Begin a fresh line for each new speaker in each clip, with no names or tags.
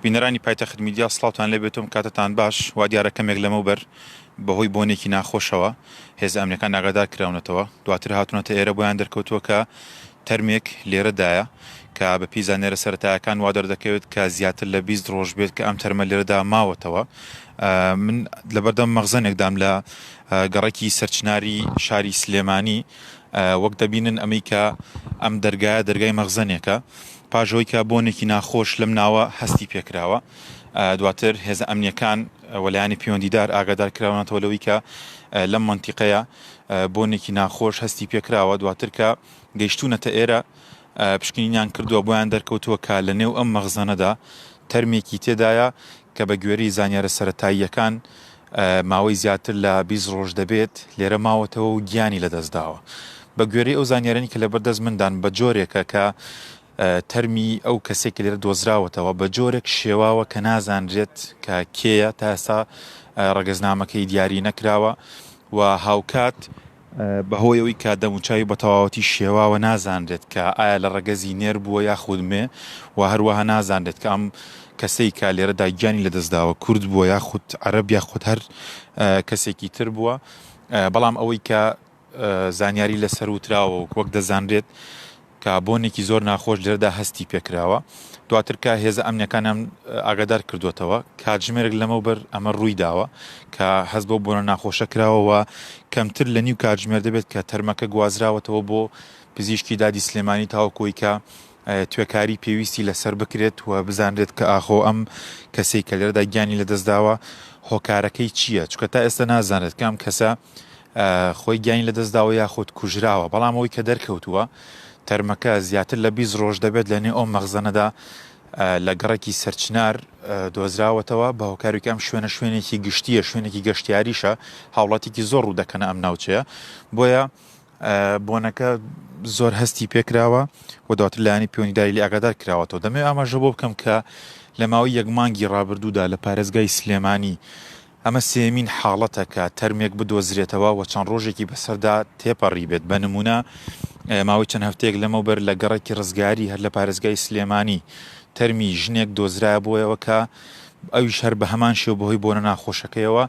بینەرانی پایتەخت میدیا سڵاوتان لێبێتم کاتتان باش وا دیارە کەمێک لەمەوبەر بەهۆی بۆنێکی ناخۆشەوە هێز ئەمنەکان ئاگادار کراونەتەوە دواتر هاتونەتە ئێرە بۆیان دەرکەوتووە کە تەرمێک لێرەدایە کە بە پێی زانێرە سەتایەکان وا دەردەکەوێت کە زیاتر لە 20 ڕۆژ بێت کە ئەم تەرمە لێرەدا ماوەتەوە من لەبەردەم مەغزەنێکدام لە گەڕێکی سەرچناری شاری سلێمانی وەک دەبینن ئەمریکا ئەم دەرگایە دەرگای مەغزەنێکە پاش ئەوەی کە بۆنێکی ناخۆش لەم ناوە هەستی پێکراوە، دواتر هێزە ئەمنییەکان و لایەنی پەیوەندیدار ئاگادار کراونەتەوە لەوەی کە لەم مەنتیقەیە بۆنێکی ناخۆش هەستی پێکراوە، دواتر کە گەیشتوونەتە ئێرە پشکنینیان کردووە، بۆیان دەرکەوتووە کە لە نێو ئەم مەخزەنەدا تەرمێکی تێدایە کە بە گوێرەی زانیارە سەرەتاییەکان ماوەی زیاتر لە بیست ڕۆژ دەبێت لێرە ماوەتەوە و گیانی لەدەستداوە. بە گوێرەی ئەو زانیاریانەی کە لەبەر دەست مندان بە جۆرێکە کە تەرمی ئەو کەسەی کە لێرە دۆزراوەتەوە بە جۆرێک شێواوە کە نازانرێت کە کێیە تا ئێستا ڕەگەزنامەکەی دیاری نەکراوە و هاوکات بەهۆی ئەوەی کە دەموچاوی بەتەواوەتی شێواوە نازانرێت کە ئایا لە ڕەگەزی نێر بووە یاخود مێ و هەروەها نازانرێت کە ئەم کەسەی کە لێرەدا گیانی لەدەستداوە کورد بووە یاخود عەرەب یاخود هەر کەسێکی تر بووە بەڵام ئەوەی کە زانیاری لەسەر وتراوە و وەک دەزانرێت کە بۆنێکی زۆر ناخۆش لێرەدا هەستی پێکراوە، دواتر کە هێزە ئەمنییەکانیان ئاگادار کردووەتەوە، کاتژمێرێک لەمەوبەر ئەمە روویداوە، کە هەست بەو بۆنە ناخۆشە کراوە و کەمتر لە نیو کاتژمێر دەبێت کە تەرمەکە گوازراوەتەوە بۆ پزیشکی دادی سلێمانی تاوەکو ئەوەی کە توێکاری پێویستی لەسەر بکرێت و بزانرێت کە ئاخۆ ئەم کەسەی کە لێرەدا گیانی لەدەستداوە هۆکارەکەی چییە، چونکە تا ئێستا نازانرێت کە ئەم کەسە. خۆی گیانی لەدەستداوە یاخود کوژراوە، بەڵام ئەوەی کە دەرکەوتووە تەرمەکە زیاتر لە بیست ڕۆژ دەبێت لەنێو ئەو مەخزەنەدا لە گەڕەکی سەرچنار دۆزراوەتەوە، بە هۆکارێکی ئەم شوێنە شوێنێکی گشتییە، شوێنێکی گەشتیاریشە، هاوڵاتیکی زۆر ڕوودەکەنە ئەم ناوچەیە، بۆیە بۆنەکە زۆر هەستی پێکراوە و دواتر لایانی پەیوەندیداری لێ ئاگادار کراوەتەوە دەمێ ئاماژە بۆ بکەم کە لە ماوەی یەک مانگی ڕابردوودا لە پارێزگای سلێمانی ئەمە سێیەمین حاڵەتە کە تەرمێک بدۆزرێتەوە و چەند ڕۆژێکی بەسەردا تێپەڕیبێت، بە نموونە ماوەی چەند هەفتەیەک لەمەوبەر لە گەڕێکی ڕزگاری هەر لە پارێزگای سلێمانی تەرمی ژنێک دۆزرایە بۆیەوە کە ئەویش هەر بە هەمان شێوە بەهۆی بۆنە ناخۆشەکەیەوە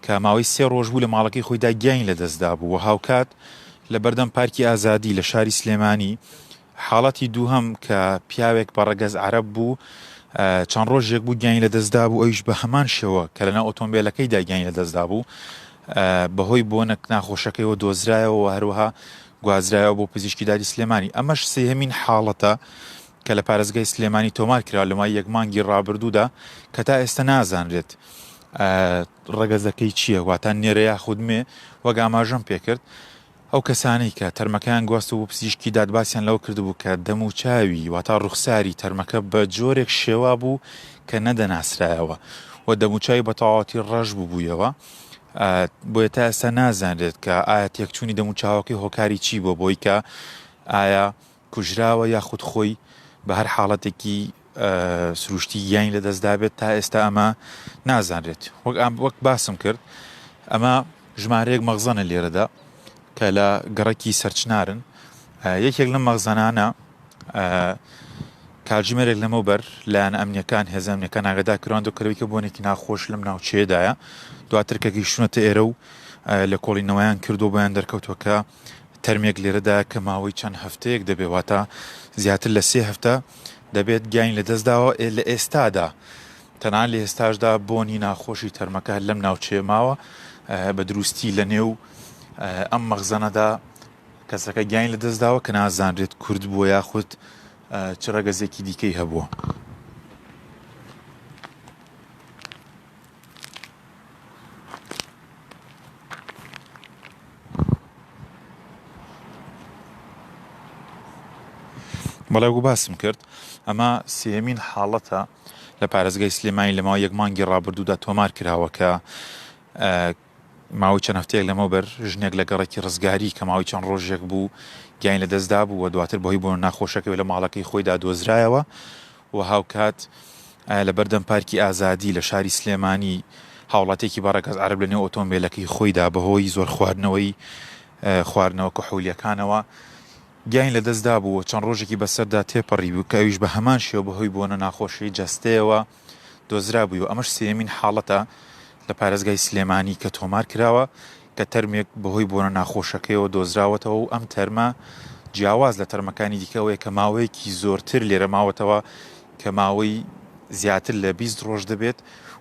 کە ماوەی سێ ڕۆژ بوو لە ماڵەکەی خۆیدا گیانی لەدەستدابوو و هاوکات لەبەردەم پارکی ئازادی لە شاری سلێمانی حاڵەتی دووهەم کە پیاوێک بە ڕەگەز عەرەب بوو چەند ڕۆژێک بوو گیانی لەدەستدابوو ئەویش بە هەمان شێوە کە لەناو ئۆتۆمبێلەکەیدا گیانی لەدەستدابوو بەهۆی بۆنە ناخۆشەکەیەوە دۆزرایەوە و هەروەها گوازرایەوە بۆ پزیشکی داری سلێمانی ئەمەش سێهمین حاڵەتە کە لە پارێزگای سلێمانی تۆمار کرا لەمای یەک مانگی ڕابردوودا کە تا ئێستا نازانرێت ڕەگەزەکەی چییە واتان نێرە یاخود مێ وەگاماژەم پێکرد ئەو کەسانەی کە تەرمەکەیان گواستبوو پزیشکی داد باسیان لەوە کردبوو کە دەموچاوی واتە ڕوخساری تەرمەکە بە جۆرێک شێوابوو کە نەدەناسرایەوە و دەموچاوی بە تەواوەتی ڕەش ببوویەوە بۆیە تا ئێستا نازانرێت کە ئایا تێکچوونی دەموچاوەکەی هۆکاری چی بۆ بۆی کە ئایا کوژراوە یاخود خۆی بە هەر حاڵەتێکی سروشتی گیانی لە دەستدابێت تا ئێستا ئەمە نازانرێت وەک ئام وەک باسم کرد ئەمە ژمارەیەک مەغزەنە لێرەدا کە لە گەڕەکی سەرچنارن یەکێک لە مەغزانانە کاتژمێرێک لەمە بەر لایەن ئەمنیەکان هێزانەکان ناگەدا کراند و کەویکە بۆنێکی ناخۆش لەم ناوچەیەدایە دواتر کە گەیشتونەتە ئێرە و لە کۆڵینەوەیان کردو بۆیان دەرکەوتوەکە تەرمێک لێرەدایە کە ماوەی چەند هەفتەیەک دەبێت، واتە زیاتر لە سێ هەفتە دەبێت گیانی لەدەستداوە، ئێ لە ئێستادا تەنانەت لە ئێستاشدا بۆنی ناخۆشی تەرمەکە هەر لەم ناوچەیە ماوە، بە دروستی لەنێو ئەم مەخزەنەدا کەسەکە گیانی لەدەستداوە کە نازانرێت کورد بووە یاخود چ ڕەگەزێکی دیکەی هەبووە. بەڵێ وەکو باسم کرد ئەمە سێمین حاڵەتە لە پارێزگای سلێمانی لەماوە یەک مانگی ڕابردوودا تۆمار کراوە کە ماوەی چەند هەفتەیەک لەمەوبەر ژنێک لە گەڕەکی ڕزگاری کە ماوەی چەند ڕۆژێک بوو گیانی لەدەستدابوو و دواتر بەهۆی بۆنە ناخۆشەکەوە لە ماڵەکەی خۆیدا دۆزرایەوە و هاوکات لەبەردەم پارکی ئازادی لە شاری سلێمانی هاوڵاتیەکی بەڕەگەز عەرەب لەنێو ئۆتۆمبێلەکەی خۆیدا بەهۆی زۆر خواردنەوەی خواردنەوە کحولیەکانەوە گیانی لەدەستدابوو و چەند ڕۆژێکی بەسەردا تێپەڕی بوو کە ئەویش بە هەمان شێوە بەهۆی بۆنە ناخۆشی جەستەیەوە دۆزرابووی و ئەمەش سێیەمین حاڵەتە لە پارێزگای سلێمانی کە تۆمار کراوە کە تەرمێک بەهۆی بۆنە ناخۆشەکەیەوە دۆزراوەتەوە و ئەم تەرمە جیاواز لە تەرمەکانی دیکە ئەوەیە کە ماوەیەکی زۆرتر لێرە ماوەتەوە کە ماوەی زیاتر لە بیست ڕۆژ دەبێت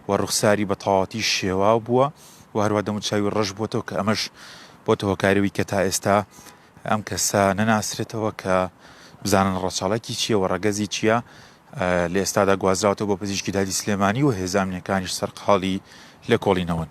و ڕوخساری بە تەواوەتی شێواو بووە و هەروە دەموچاوی ڕەش بووەتەوە کە ئەمەش بۆتە هۆکارەوی کە تا ئێستا ئەم کەسە نەناسرێتەوە کە بزانن ڕەچەڵەکی چییە و ڕەگەزی چییە، لە ئێستادا گوازراوەتەوە بۆ پزیشکی دادی سلێمانی و هێزە ئەمنییەکانیش سەرقاڵی لێکۆڵینەوەن.